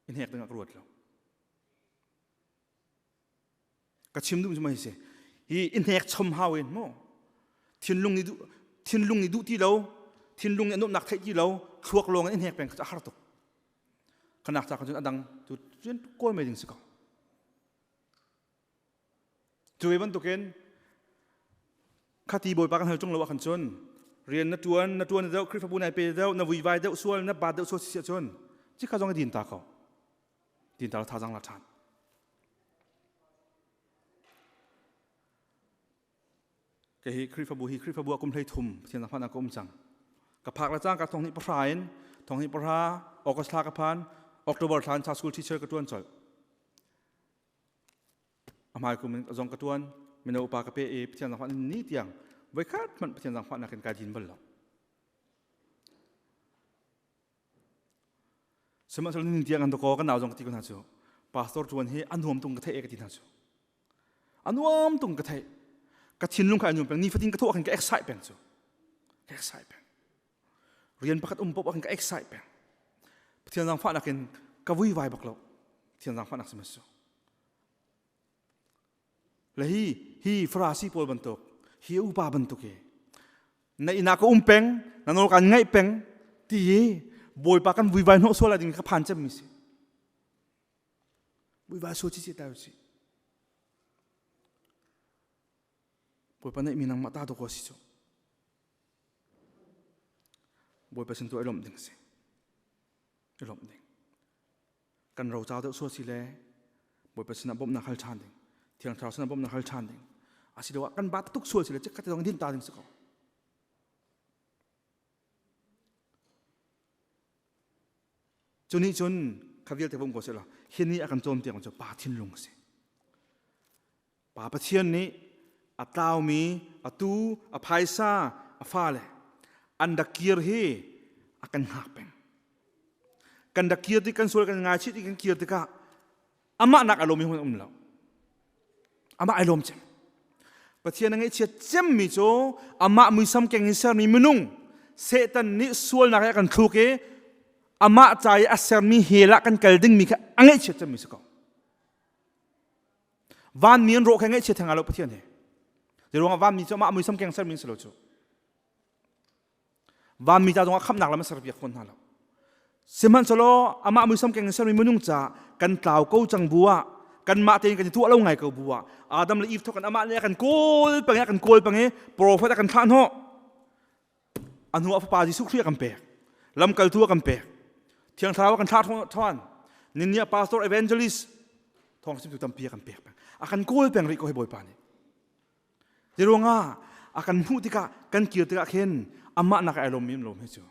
in hnek dingah ka ruat lo ka chim duh cuma hi si hi in hnek chom hau in mu thinlung ni duh thinlung ni duh ti lo thinlung ni anumnak theih ti lo thluak lawng in hnek peng kha a har tuk khanak ta cun adang tu cun kawi mai ding si ko Cuve bantukin khati bawipa kan hal chung lo ahkhan cun rian na tuan na tuan deuh Khrihfabu nai pe deuh na vuivai deuh sual na ba deuh sual si ahcun cikha zong i din ta ko din ta thazang la ṭhan kei hi Khrihfabu hi Khrihfabu a kum hlei thum Pathian zahman ah ka um cang ka phak la cang ka thong hnih pahra in thong hnih pahra August thla ka phan October thla in cha school teacher ka tuan colh A hmai kum in zong ka tuan mino upa ka pe i Pathian zangfah ni tiang voi khat hmanh Pathian zangfah nakin kai din bal lo. Sihmanhsehlaw ni tiang an dako kan nau zong ka ti ko hna cu pastor tuan hi an nuam tung ka theih e ka ti hna cu. A nuam tung ka theih ka thinlung khai anum peng ni fatin ka thawh khin ka excitement cu ka excitement rian pakhat um pop kan ka excite peng pathian zangfahnak in ka vui vai bak lo pathian zangfahnak si masu le hi hi farasi pawl bantuk hi upa bantuk hi na ina ka um peng na nol kan ngai peng ti hi bawipa kan vui vai no suala ding ka phan cem mi si vui vai so chi chi ta si Bawipa neihmi nangmah ta dawk si cu. Bawipa sin tu i lawmh ding a si. I lawmh ding. Kan ro cau deuh sual si le Bawipa sinah bawmhnak hal ṭhan ding. Thiang Thlarau sinah bawmhnak hal ṭhan ding. Asiloah kan ba tuk sual si le chikkhat zong din ta ding si ko. Cu nih cun kha vialte bawm ko sehla, hi ni a kan cawm tiang cu pa thinlung a si. Pa Pathian nih a tlaumi a tu a phaisa a fale an dak kir hi a kan hngak peng kan dak kir ti kan sual kan ngaichit i kan kir tikah amah nak a lawm hun um lo amah ai lawm cem pathian a ngaihchiat cemmi cu amah muisam keng in sermi minung satan nih sualnak he a kan thluk i amah ca i a sermi hel ah kan kal dingmi kha a ngaihchiat cemmi si ko vanmi an rawh khe ngaihchia theng lo pathian he di ruangah vanmi cu amah muisam keng ser min selo cu vanmi ta zongah khamnak lam a serpiak fawn hna lo sihmanhselaw amah muisam keng sermi minung ca kan tlau ko cang bu ah kanmah tein kan i tuah lo ngai ko bu ah adam le eve thawkin amah le a kan kawl pange a kan kawl pange profet a kan thlah hnawh a hnu ah fapa Jesuh Khrih a kan pek lamkaltu a kan pek thiang thlarau a kan thlah than ninniah pastor evangelist thawng sim tu tampi a kan pek a kan kawl peng rih ko hi bawipa nih hi ruangah a kan hmuh tikah kan kir tikah khin amah nak ai lawm im lawm hi cu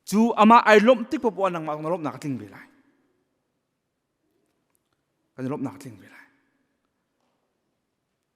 cu amah ai lawmh tik popoa nangmah na lawmhnak a tling ve lai kan lawmhnak a tling ve lai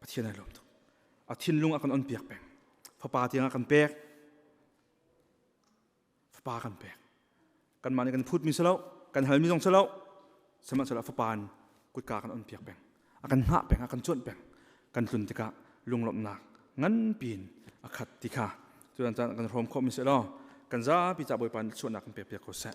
Pathian ai lawm tuk. A thinlung a kan on piak peng. Fapa tiang a kan pek. Fapa kan pek. Kanmah nih kan phutmi selo, kan halmi zong selo, sihmanhsehlaw fapa in kutka kan on piak peng. A kan hngah peng, a kan cuanh peng. Kan tlun tikah lunglawmhnak nganpi in a khat ti kha. Tutan caan kan rawm khawhmi selaw, kan zapi ca Bawipa nih sualnak kan pek piak ko seh.